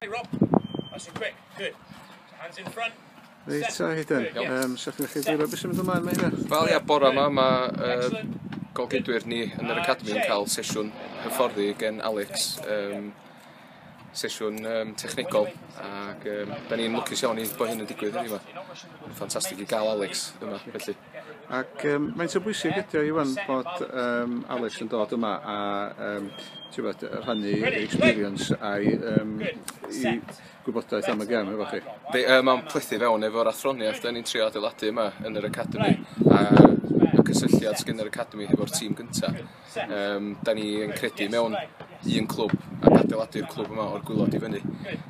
Hey Rob, nice and quick, good. Hands in front. Reit, ta hyd yn. Um, Sa'ch chi'n chi dwyro beth sy'n mynd ymlaen mae hynna? Wel ia, bore yma mae uh, golgydwyr ni yn yr Academi yn cael sesiwn hyfforddi gen Alex. Um, sesiwn um, technegol ac um, da ni'n lwcus iawn i bod hyn yn digwydd yma. Ffantastig i gael Alex yma, felly. Ac um, mae'n sy'n bwysig ydy o Iwan bod um, Alex yn dod yma a um, bod, rhannu experience a'i um, i gwybodaeth am y gem efo chi. Be, uh, mae'n plethu fewn efo'r athroniaeth da ni'n trio adeiladu yma yn yr Academy a y cysylltiad sgyn yr Academy hefo'r tîm gyntaf. Yym 'dan ni yn credu mewn un clwb ac adeiladu'r clwb yma o'r gwilod i fyny.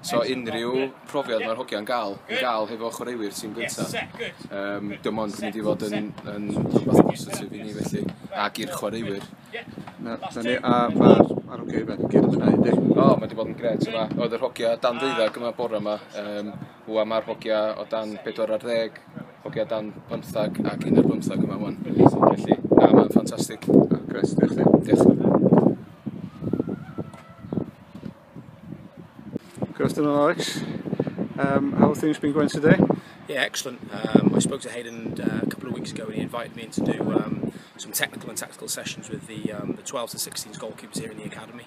So unrhyw profiad ma'r hogia'n ga'l i ga'l hefo chwaraewyr tîm gynta yym dim ond yn mynd i fod yn yn rwbath positif i ni felly ag i'r chwaraewyr. Na, 'dan ni a ma' ma'r hogia yma gyd yn mwynhau yndi? O ma' 'di bod yn grêt yma. O'dd yr hogia dan ddeuddag yma bore 'ma yym Rŵan mae'r hogia o dan 4 ar ddeg, hogia o dan bymthag ac un ar bymthag yma ŵan. Felly, na, mae'n ffantastig. Ah, Chris, diolch ti. Diolch. Good afternoon, Alex. Um, how have things been going today? Yeah, excellent. Um, I spoke to Hayden uh, a couple of weeks ago and he invited me in to do um, some technical and tactical sessions with the, um, the 12 to 16s goalkeepers here in the academy.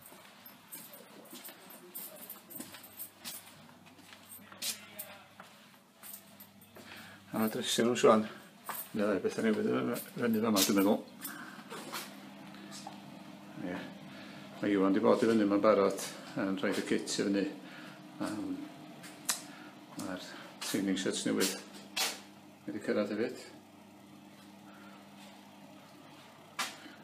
A dresio nhw siwan. Neu ddau beth newydd yn fyny fama, dwi'n meddwl. Ie. Mae Iwan wedi bod i fyny yma'n barod yn rhoi y kit i fyny. Um, Mae'r training shirts newydd wedi cyrraedd hefyd.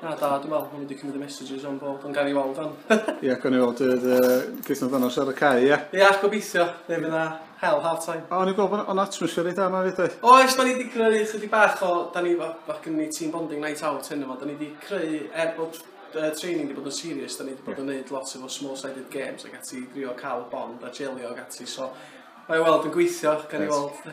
Na, da, dwi'n meddwl, wedi cymryd y messages o'n bod, ond gael ei weld o'n. Ie, gael ei weld yr gweithio amdano ar y cae, ie? Ie, gobeithio, fe fydd na hel half time. O, ni'n gweld o'n atmosffer i da yma fyd oedd? Oes, da ni wedi creu chydig bach o, da ni, mae gen ni team bonding night out hyn yma, da ni wedi creu, er bod uh, training wedi bod yn serious, da ni wedi bod yn gwneud lot efo small-sided games ac ati drio cael y bond a jelio ac ati, so mae weld yn gweithio, gan i weld.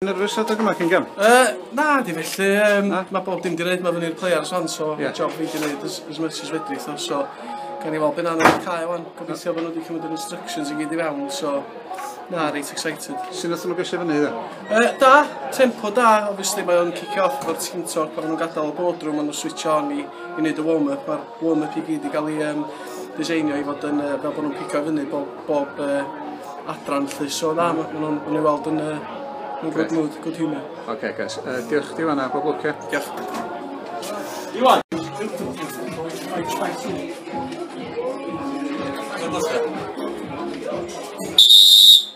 Nerfus adeg yma cyn gem? Uh, na, di felly. Um, na? Mae bob dim di wneud, mae fyny'r players on, so yeah. job fi di wneud as, as much as fedri, so, so gan i weld beth anodd i'r cael o'n gobeithio bod nhw wedi cymryd yr instructions i gyd i fewn, so na, reit excited. Sy'n nath nhw gesio fyny, dda? Uh, da, tempo da, obviously mae o'n kick off o'r team talk, pan nhw'n gadael y boardroom, ond nhw'n switch on i, i wneud y warm-up, mae'r warm-up i gyd i gael ei um, diseinio i fod yn, uh, fel bod nhw'n pico fyny bob, bob uh, adran lly. So dda, mm. maen nhw'n nhw weld yn, uh, yn good mood, good humour. Oce, okay, guys. Uh, diolch chdi fanna, bob lwc, ie? Diolch. Iwan! Iwan!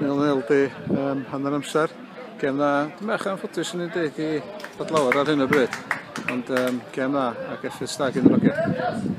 Mewn el di um, hanner amser. Gem dda. Dwi'n bach anffodus yn ei dweud i fod lawer ar hyn o bryd. Ond um, gem dda ac effaith stag yn y rocket.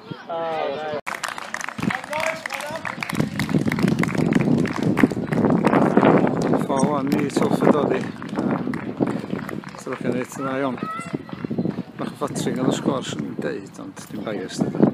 Fawr ni sylfed oddi. Sylwch yn eith yna iawn. Bach o ffatri gan y sgwr sy'n deud, ond dim bias dyda.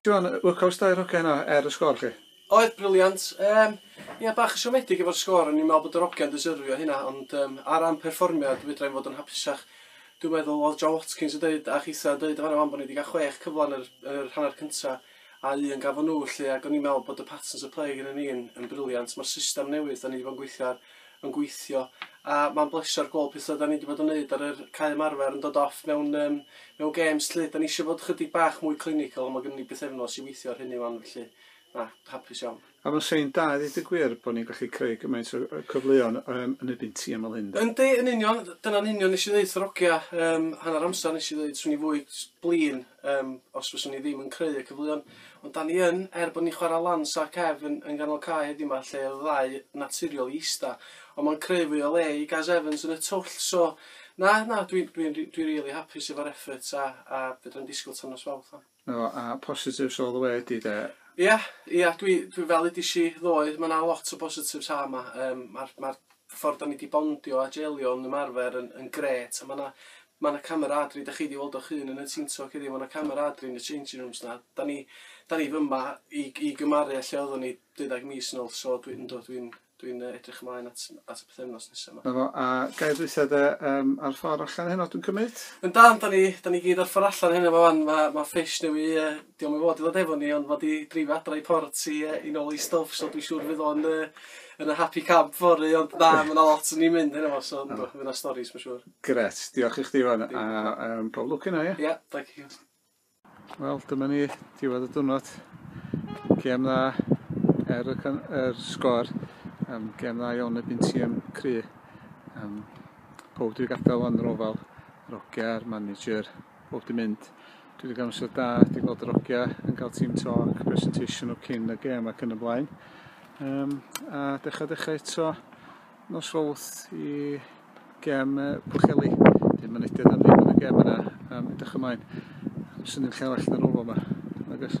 Siân, workouts da i'r hogiau yna, er y sgôr chi? Oedd, brilliant. Yym, ia, bach yn siomedig efo'r sgôr, o'n i'n meddwl bod yr hogiau'n deserfio hynna, ond yym, ar ran perfformiad, fedra i'm fod yn hapusach. Dwi'n meddwl, oedd Joe Watkins yn deud, a chitha yn deud yn fan'na 'wan, bod ni 'di cael chwech cyfle yn yr, yn yr hanner cynta, a un gafon nhw 'lly, ac o'n i'n meddwl bod y patterns of play gynnon ni yn, yn brilliant. Ma'r system newydd 'dan ni 'di bod yn gweithio ar, yn gweithio a ma'n bleser gweld petha 'da ni 'di bod yn neud ar yr cae ymarfer yn dod off mewn yym mewn gêms 'lly. 'Da ni isio bod chydig bach mwy clinical ond ma' gynnon ni bythefnos i weithio ar hynny 'wan felly na, hapus iawn. A ma'n sei'n da i ddeud y gwir bo' ni'n gallu creu gymaint o o cyfleon yym yn erbyn tîm fel hyn 'de? Yndi yn union, dyna'n union nes i ddeud wrth yr ogia yym hanner amser nes i ddeud 'swn i fwy s- blin Yym os fyswn ni ddim yn creu y cyfleon. Ond 'dan ni yn, er bod ni'n chwara lan Saff Kev yn yn ganol cae heddiw 'ma lle odd y ddau naturiol i ista ond ma'n creu fwy o le i Gaz Evans yn y twll so na na dwi dwi dwi dwi rili hapus efo'r effort a a fedrai'm disgwl tan nos Fawrth 'wan. Na fo, a positives all the way ydi de? Ia ia dwi dwi fel udish i ddoe ma' 'na lot o bositives ha' 'ma yym ma'r ma'r y ffordd 'da ni 'di bondio a jeilio yn ymarfer yn yn grêt a ma' 'na ma' 'na cameradri 'dach chi 'di weld o'ch hun yn y team talk heddiw ma' 'na cameradri yn y changing rooms 'na 'da ni 'da ni fyma i g- i gymaru â lle oeddwn ni deuddag mis yn ôl so dwi yndw dwi'n dwi'n yy edrych ymlaen at at y pythefnos nesa 'ma. 'Na fo, a ga i ddwytha de yym ar ffor allan heno dwi'n cymyd? Yndan 'da ni 'da ni gyd ar ffor allan heno 'ma 'wan ma' ma' fish newy yy 'Di o'm i fod i ddod efo ni ond fod i dreifio adra i Port i yy i nôl i stwff so dwi siŵr fydd o'n yy yn y happy camp fory ond na ma' 'na lot yn 'i mynd heno fo so yndw fydd 'na storis ma' siŵr. Gret, diolch i chdi Iwan a yym pob lwc yno ia? Ia, thank you. Wel dyma ni, diwedd y diwrnod. Gêm dda er y, er sgor. Um, gêm dda iawn y byn tîm cry. Um, pob dwi'n gadael yn yr ofal. Roger, manager, Bob di mynd. Dwi wedi cael amser da, di gweld yr ogia yn cael team talk, presentation o cyn y gem ac yn y blaen. Um, a dechrau dechrau eto nos fawth i gem uh, Pwcheli. Dwi'n mynediad am ddim yn y gem yna, um, edrych ymlaen. Sy'n ni'n lle arall na rôl yma. Agos.